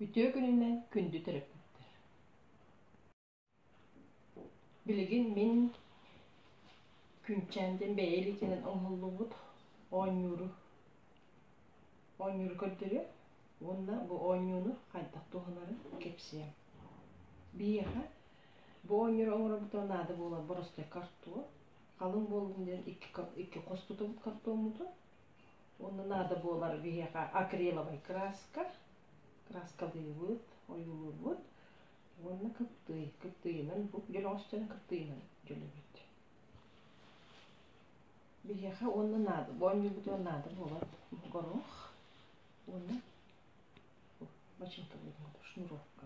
Үтүө күнүнэн күндү төрөппүттэр. Билигин мин Күнчээмдин бэйэ илиитинэн оҥоһуллубут оонньууру оонньууру көрдөрүө уонна бу оонньууну хайдах туһанарын кэпсиэм. Биһиэхэ бу оонньууру оҥорорбутугар наада буолар боростой картуо, халыҥ буолбутун диэн икки хостутубут картоммутун уонна наада буолар биһиэхэ акриловай краска краскалыыбыт ойуулуурбут уонна кыптыый кыптыйынан бу дьөлөҕөстөрүн кыптыйынан дьөлөбүт биһиэхэ уонна наада боонньуйбутугар наада буолар горох уонна починка будет шнуровка